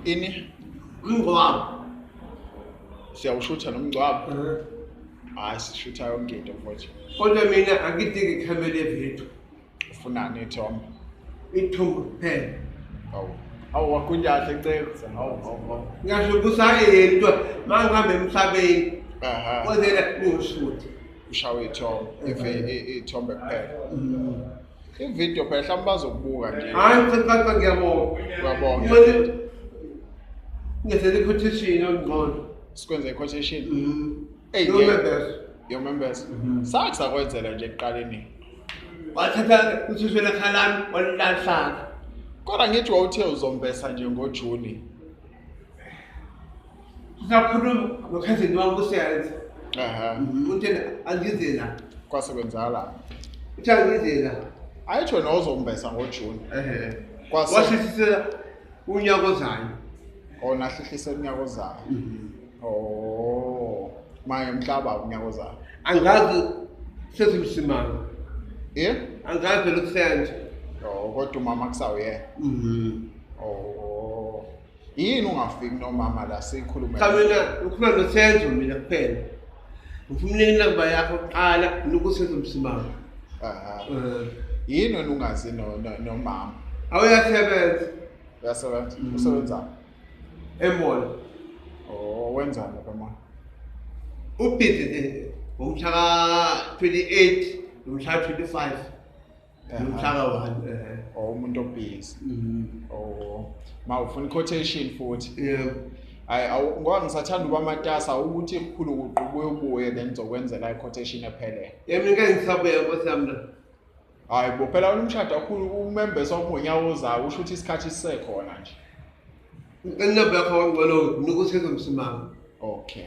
ini umngcwabo siyawushutha nomngcwabo hayi sishutha yonke into mfowethu kodwa mina angidingi ikhamera evethu ufunani ithombe ithombe kuphela awu awu wakunyahle nceko awu awu ngasho kusayedwa uma ngihambe emhlabeni kodwa ngiwushuthe ushawe ithombe ithombe kuphela mm. ividiyo phela mhlawumbe bazokubuka nje hayi mfethu ngiyabonga uyabonga ngenzela i-quotation yongcono sikwenza i-quotation mm-hmm. eyi yomembeza mm-hmm. sathi sakwenzela nje ekuqaleni wathatha uthuswe lekhalami walilahlaka kodwa ngithi wawuthe uzombesa nje ngojuni Sisakhuluma nokhazini wami kusenza. Aha. Mhm, Uthe angize la. Kwasebenza la. Uthe angize la. Ayitsho nozombesa ngoJune. Ehhe. Kwase- Wasisisela unyaka ozayo. Ona hlihlise unyaka ozayo. Oh. Maye mhlaba unyaka ozayo. Angazi sezimsimanga. Eh? Angazi lokusenza. Oh, kodwa umama kusawuyena. Mhm. Oh. yini ungafiki nomama la sikhulume cha mina ukhuluma nosenzo mina kuphela ngifuna unikele inamba yakho kuqala nokusenzo msimama aha eh. yini wena ungazi nomama awuyasebenza uyasebenza mm. usebenza emall oh wenzani lapha mama ubhizi ngomhla ka 28 nomhla ka 25 umhlaka wani eh or umuntu obhizi mm. or ma ufuna quotation futhi yebo hayi ngoba ngisathanda uba matasa ukuthi kukhulu kuqubuye ubuye then ngizokwenzela i-quotation ephelele yena ngeke ngisabuya nkosi yami la hayi bo phela wena umshado kakhulu umembesa umonyawo ozayo usho ukuthi isikhathi sisekhona nje inamba yakho wangcwelo nikutheke msimanga okay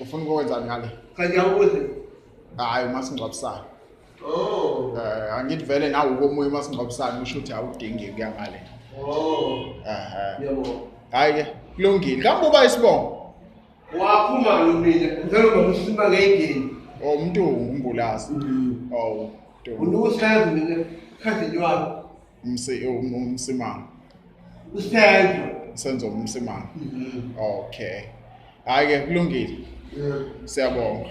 ufuna ukwenzani ngale cha ngiyawubuza hayi umasingcwabisana oh eh angithi vele nawe ukomunye umasingcwabisana usho ukuthi awudingi kuya ngale oh ehe yebo hayi ke kulungile kambe uba isibongo waphuma mina ngicela uba msima ngeyindini oh umuntu ungumbulazi mm. oh unukusenzi mina khathi nywalo umsimanga usenzo senzo umsimanga mm-hmm. okay hayi ke kulungile siyabonga